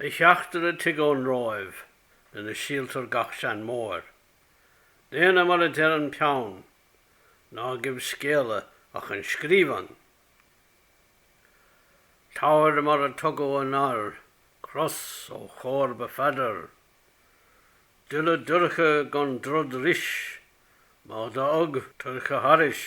A theachtaire tig ón Róimh lena síoltar gach seanmóir. Déana mar adeir an peann, ná geibh scéala ach an scríbheann. Tabhair mar a tugadh anoir cros ó chomharba Pheadair, duille dorcha gan drud ris, má do thug toirche thairis.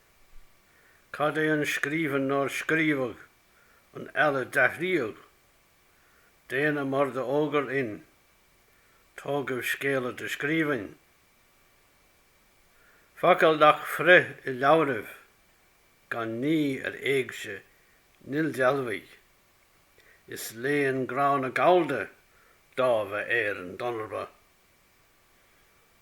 Cad é an scríbheann nár scríobhadh? An eile d'athraíodh? Déana mar do fhógair inn? Tógaibh scéala do scríbhinn? Focail nach fríth i leabhraibh gan ní ar éigse n-ildealbhaigh is léann gránna gallda dáimh Éireann d'ionnarba.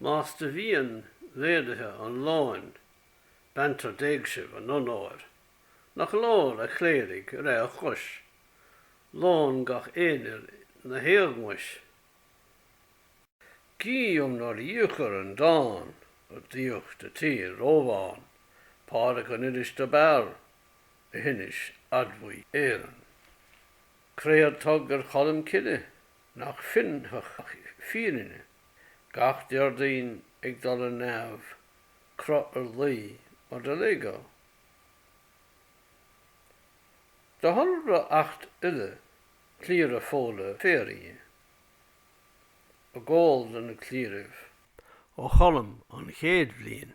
Más do mhian mhéaduithe an lóin, beantar d'éigsibh a n-onóir, nach leor, a chléirigh, re a chois, lón gach aonair 'na éagmais. Gidh um nár dhíochair an dán ar dtíocht a tír Rómhán Pádraig an iris dob fhearr, a hinis fhádbhuig Éireann. Créad tug ar Cholm Cille nach fionnfadh ach fírinne, gach Déardaoin ag dul ar neamh, crodh ar laoi mar do léagadh. Do thoradh reacht uile cliara Fódhla Féaraigh i gcomhall le na cliaraibh. Ó Cholm an chéad bhliain.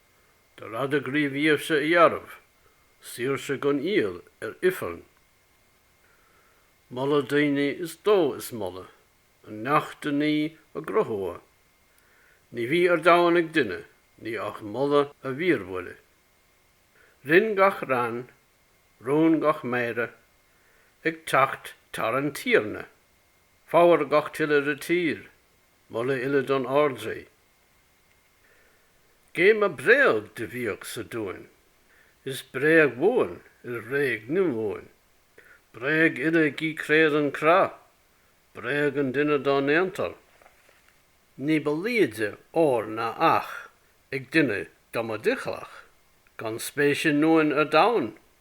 do rad a gníomhsa a dhearbh, saoirse gan iall ar Ifearnn. Moladh daoine is dó is moladh an neach do-ní a gcruthughadh, ní bhí ar domhan ag duine ní ach moladh a mhíorbhuile. Rinn gach rann, rún gach méire, ag teacht tar an Tiarna, fabhar gach tuile re tír, moladh uile don Ardrí. Gémadh bréag do bhiadh sa duain, is bréag bhuan ar bhréig ndiombuain, bréag uile gidh créad an crodh, bréag an duine dá ndéantar. Ní ba liaide ór ná each ag duine dámadh doichleach, gan spéis i nduain ar domhan.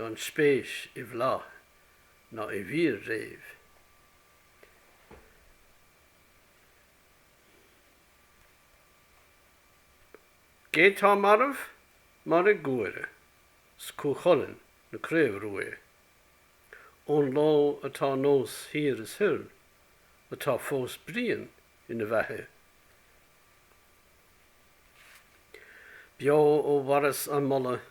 gan spéis i bhflaith ná i bhfir riamh. Gé tá marbh, mairidh Guaire 's Cú Chulainn na Craobhruaidhe, ón ló atá nós thiar is thoir, atá fós Brian ina bheathaidh. Beo ó mharas a moladh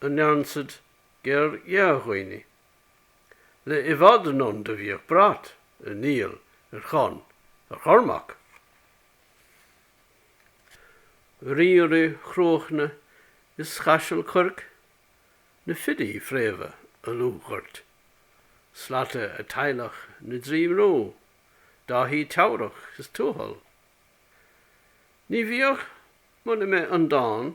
a ndearnsad gér dhea-dhaoine. Le i bhfad anonn do bhíodh brat ar Niall, ar Chonn, ar Chormac. Ríora Chruachna is Chaisil Cuirc, na filí fréamha a lubhghort. Slata a teaghlach na dtrí mbrú, Dáithí Teamhrach is Tuathal. Ní bhíodh, muna mbeith an dán,